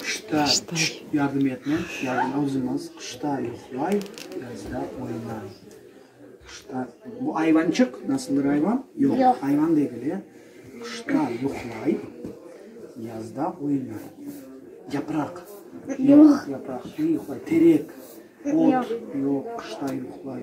Qışta yardım etme, yazın özümiz, qışta yuqlay, yazda oynay. Qışta, bu ayvançıq, nasıldır ayvan? Yoq, ayvan degil, e. Qışta yuqlay, yazda oynay. Yapraq. Yoq, yapraq, ne yuqlay? Terek, ot. Yoq, qışta yuqlay.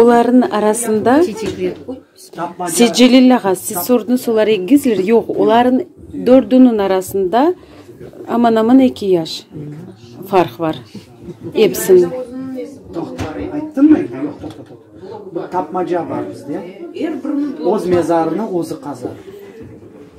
Olarnıñ arasında Secelil ağa, siz sordunız, olar egizler, yoq, olarnıñ dördüniñ arasında aman-aman eki yaş farq bar, epsiniñ.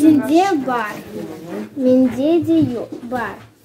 Sende bar, mende de yoq, bar.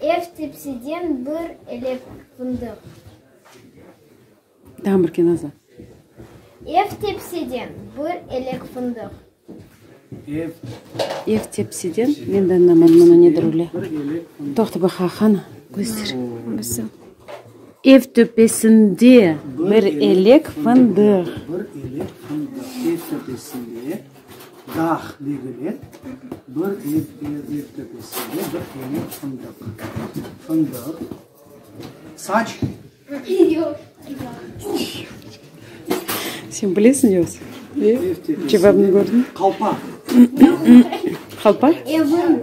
Ev tepsiden bir elek fındıq. Ev tepsiden bir elek fındıq. Ev tepsiden Ev töpesinde bir elek fındıq. Dağ-Negüle bir ev töpesinde bir tane fındıq. Fındıq. Saç. Sen bilesiñ yogsa? Ev töpesinde. Cevabını kördiñ? Qalpa. Qalpa? Evim.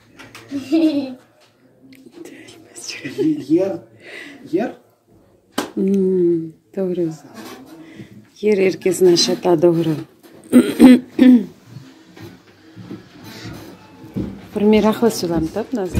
Yer, yer. Doğru. Yer er kesni aşata, doğru. Primeraqlı sözlem tap, nazlı.